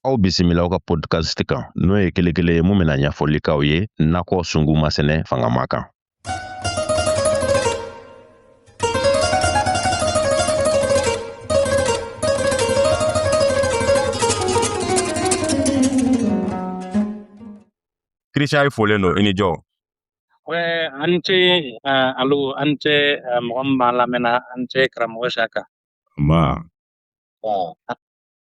aw bisimila aw ka podcast kan n'o ye kelekele ye mun bɛna ɲɛfɔli k'aw ye nakɔ sunguma sɛnɛ fangama kan kirisiya ye folen don i ni jɔ an ce alo an ce mɔgɔ min b'a lamɛnna an ce karamɔgɔ saka ma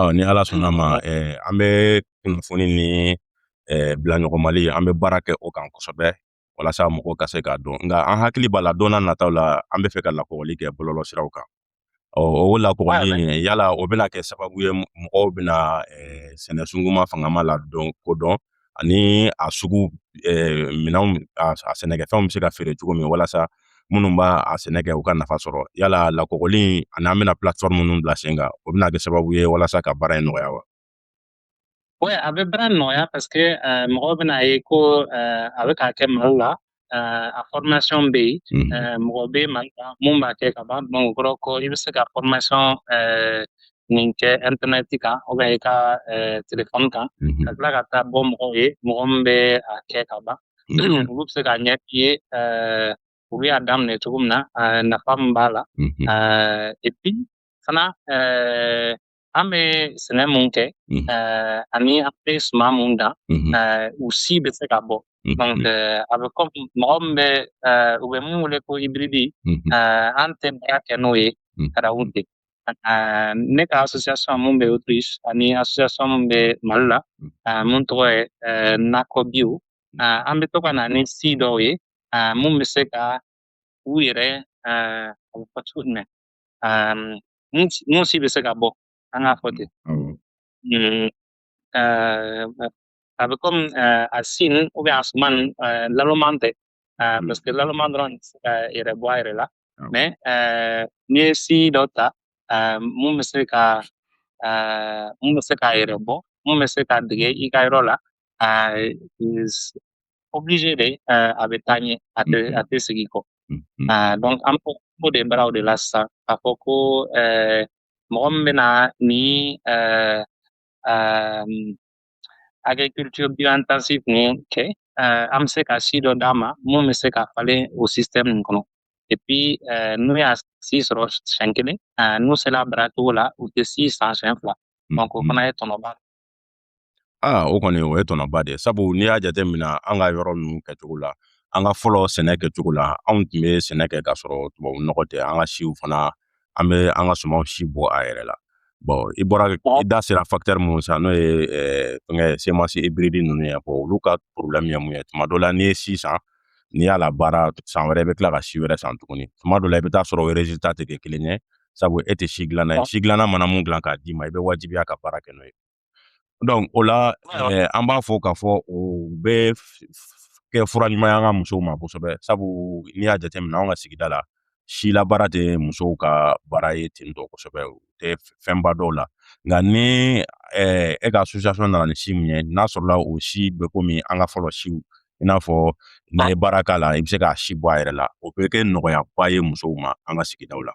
Ɔ ni ala sɔnna ma ɛɛ an bɛ kunnafoni ni ɛɛ bila ɲɔgɔn mali an bɛ baara kɛ o kan kosɛbɛ walasa mɔgɔw ka se k'a dɔn nka an hakili b'a la don nataw la an bɛ fɛ ka lakɔgɔli kɛ bɔlɔlɔ siraw kan ɔ o lakɔgɔli in yala o bɛna kɛ sababu ye mɔgɔw bɛna ɛɛ sɛnɛ sunguma fangama lakodɔn ani a sugu minɛnw a sɛnɛkɛfɛnw bɛ se ka feere cogo min walasa minnu b'a a sɛnɛ kɛ u ka nafa sɔrɔ yala lakɔgɔli ani an bɛna platform minnu bila sen kan o bɛna kɛ sababu ye walasa ka baara in nɔgɔya wa Oui, a bɛ baara nɔgɔya parce que mɔgɔw bɛna a ye ko a bɛ ka kɛ Mali la eh, a fɔrmasɔn bɛ yen mhm. eh, mɔgɔ bɛ mali la mun b'a kɛ ka ban bon o kɔrɔ ko i bɛ se ka fɔrmasɔn eh, nin kɛ ɛntɛnɛti kan ou bien i ka telefɔni kan mhm. ka tila ka taa bɔ mɔgɔw ye mɔgɔ min bɛ a kɛ ka ban mhm. olu bɛ se k'a ɲɛf'i ye u bɛ a daminɛ cogo min na nafa min b'a la epi fana An bɛ sɛnɛ mun kɛ ani an bɛ suman mun dan u si bɛ se ka bɔ donc a bɛ komi mɔgɔ min bɛ u bɛ minnu wele ko hybride an tɛ baara kɛ n'o ye arabu de ne ka association mun bɛ Autriche ani association min bɛ mali la mun tɔgɔ ye nakɔ bio an bɛ to ka na ni si dɔw ye minnu bɛ se ka u yɛrɛ a bɛ fɔ cogo jumɛn um, mun si bɛ se ka bɔ an k'a fɔ ten mm, uh, a bɛ komi uh, a si ou bien a suman uh, laloman tɛ uh, parce que laloman dɔrɔn tɛ se k'a yɛrɛ bɔ a yɛrɛ la mais uh, n'i ye si dɔ ta uh, mun bɛ se ka uh, mun bɛ se k'a yɛrɛ bɔ mun bɛ se ka dege i ka yɔrɔ la uh, is obligé de euh, a bɛ taa ɲɛ a tɛ a tɛ segin kɔ ah, donc an b'o ko de baaraw de la sisan k'a fɔ ko euh, mɔgɔ min bɛna ni euh, agriculture bio-intensive nin kɛ an bɛ se ka si dɔ d'a ma mun bɛ se ka falen o système nin kɔnɔ et puis n'u y'a si sɔrɔ siɲɛ kelen n'u sera a baaracogo la u tɛ si san siɲɛ fila donc o fana ye tɔnɔba aa o kɔni o ye tɔnɔba de ye sabu n'i y'a jateminɛ an ka yɔrɔ ninnu kɛcogo la an ka fɔlɔ sɛnɛ kɛcogo la anw tun bɛ sɛnɛ kɛ k'a sɔrɔ tubabu nɔgɔ tɛ an ka siw fana an bɛ an ka sumanw si bɔ a yɛrɛ la bɔn i bɔra i da sera fakitɛri minnu san n'o ye fɛngɛ semansi ibiridi ninnu ye bɔn olu ka porolɛmu ye mun ye tuma dɔ la n'i ye si san n'i y'a labaara san wɛrɛ i bɛ tila ka si wɛrɛ san tuguni tuma dɔ la i bɛ taa sɔrɔ o rezilita tɛ kɛ kelen ye sabu e tɛ si dilanna ye si dilanna mana mun dilan k'a d'i ma i bɛ wajibiya ka baara kɛ n'o ye Donc o la eh, an b'a fɔ k'a fɔ o bɛ kɛ fura ɲuman ye an ka musow ma kosɛbɛ sabu n'i y'a jateminɛ anw ka sigida la si labaara tɛ musow ka baara ye ten tɔ kosɛbɛ u tɛ fɛnba dɔn a la nka ni eh, e ka association nana ni si min ye n'a sɔrɔla o si bɛ komi an ka fɔlɔ siw i n'a fɔ n'i ye baara k'a la i bɛ se k'a si bɔ a yɛrɛ la o bɛ kɛ nɔgɔyaba ye musow ma an ka sigidaw la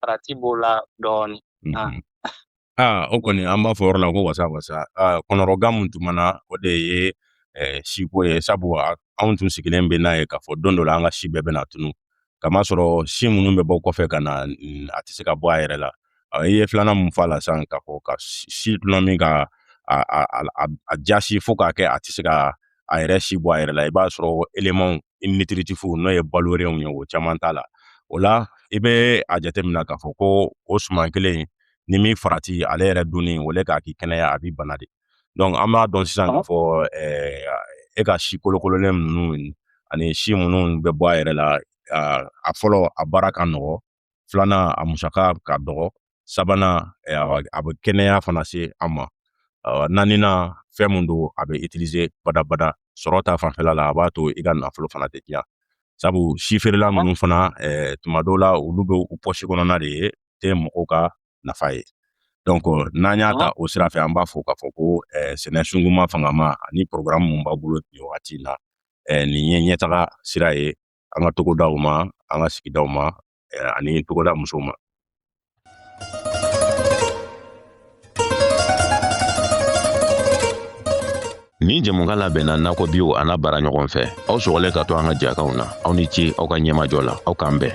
Farati b'o la dɔɔnin aa o kɔni an b'a fɔ yɔrɔ la ko wasa wasa kɔnɔrɔgan min tun b'an na o de ye siko ye sabu anw tun sigilen bɛ n'a ye k'a fɔ don dɔ la an ka si bɛɛ bɛna tunun k'a masɔrɔ si minnu bɛ bɔ kɔfɛ ka na a tɛ se ka bɔ a yɛrɛ la i ye filanan min fa la sisan ka fɔ ka si dulɔ min ka a jasi fo k'a kɛ a tɛ se ka a yɛrɛ si bɔ a yɛrɛ la i b'a sɔrɔ elemanw i nitiritifu n'o ye balolanw ye o caman t'a la o la i bɛ a jateminɛ k'a fɔ ko o suman kelen ni min farati ale yɛrɛ dunni au lieu k'a k'i kɛnɛya a b'i bana de donc an b'a dɔn sisan k'a fɔ e ka si kolokololen ninnu ani si minnu bɛ bɔ a yɛrɛ la a fɔlɔ a baara ka nɔgɔ filanan a musaka ka dɔgɔ sabanan eh, a bɛ kɛnɛya fana se an ma naaninan fɛn min don a bɛ itilize badabada sɔrɔta fanfɛla la a b'a to i ka nafolo fana tɛ tiɲɛ sabu si feerela minnu fana eh, tuma dɔw la olu bɛ u pɔsi kɔnɔna de ye tɛ mɔgɔw ka nafa ye donc n'an y'a ta o sira fɛ an b'a fɔ k'a fɔ ko eh, sɛnɛ sunguma fangama ani programme min b'a bolo nin wagati in na eh, nin ye ɲɛtaga sira ye an ka togodaw ma an ka sigidaw ma eh, ani togoda musow ma nin jɛmukan labɛnna nakɔ biyo a n'a baaraɲɔgɔn fɛ aw sɔgɔlen ka to an ka jɛkanw na aw ni ce aw ka ɲɛmajɔ la aw k'an bɛn